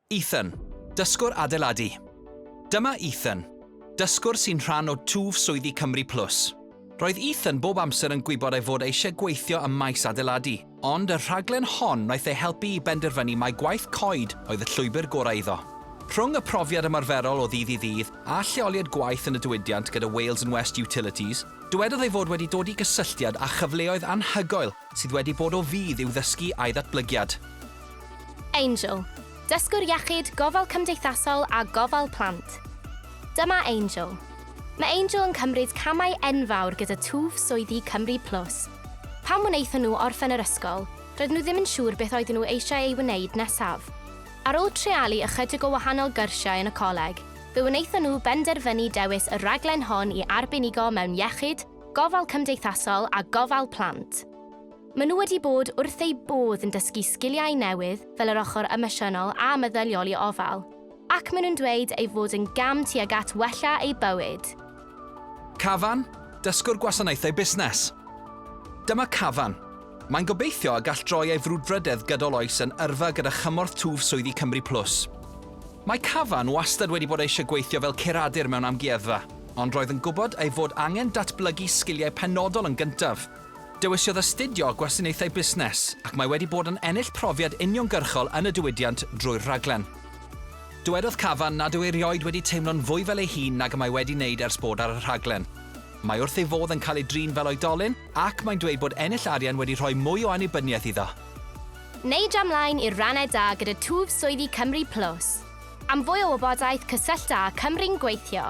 Ethan, dysgwr adeiladu. Dyma Ethan, dysgwr sy'n rhan o twf swyddi Cymru Plus. Roedd Ethan bob amser yn gwybod ei fod e eisiau gweithio ym maes adeiladu, ond y rhaglen hon wnaeth ei helpu i benderfynu mai gwaith coed oedd y llwybr gorau iddo. Rhwng y profiad ymarferol o ddydd i ddydd a lleoliad gwaith yn y diwydiant gyda Wales and West Utilities, dywedodd ei fod wedi dod i gysylltiad â chyfleoedd anhygoel Sydd wedi bod o fudd i'w ddysgu a'i ddatblygiad. Angel, Dysgwr Iechyd, Gofal Cymdeithasol a Gofal Plant. Dyma Angel. Mae Angel yn cymryd camau enfawr gyda twf swyddi Cymru Plus. Pan wnaethon nhw orffen yr ysgol, roedden nhw ddim yn siŵr beth oedden nhw eisiau ei wneud nesaf. Ar ôl treialu ychydig o wahanol gyrsiau yn y coleg, fe wnaethon nhw benderfynu dewis y rhaglen hon i arbenigo mewn iechyd, Gofal Cymdeithasol a Gofal Plant. Maen nhw wedi bod wrth eu bodd yn dysgu sgiliau newydd fel yr ochr emosiynol a meddyliol i ofal, ac maen nhw'n dweud ei fod yn gam tuag at wella eu bywyd. Cafan, Dysgwr Gwasanaethau Busnes. Dyma Cafan. Mae'n gobeithio y gall droi ei frwdfrydedd gydol oes yn yrfa gyda chymorth twf swyddi Cymru Plus. Mae Cavan wastad wedi bod eisiau gweithio fel curadur mewn amgueddfa, ond roedd yn gwybod ei fod angen datblygu sgiliau penodol yn gyntaf. Dewisiodd astudio Gwasanaethau Busnes, ac mae wedi bod yn ennill profiad uniongyrchol yn y diwydiant drwy'r rhaglen. Dywedodd Cavan nad yw erioed wedi teimlo'n fwy fel ei hun nag y mae wedi wneud ers bod ar y rhaglen. Mae wrth ei fodd yn cael ei drin fel oedolyn, Ac mae'n dweud bod ennill arian wedi rhoi mwy o annibyniaeth iddo. Neidio ymlaen i'r rannau da gyda twf swyddi Cymru Plus. Am fwy o wybodaeth cysyllta â Cymru'n Gweithio.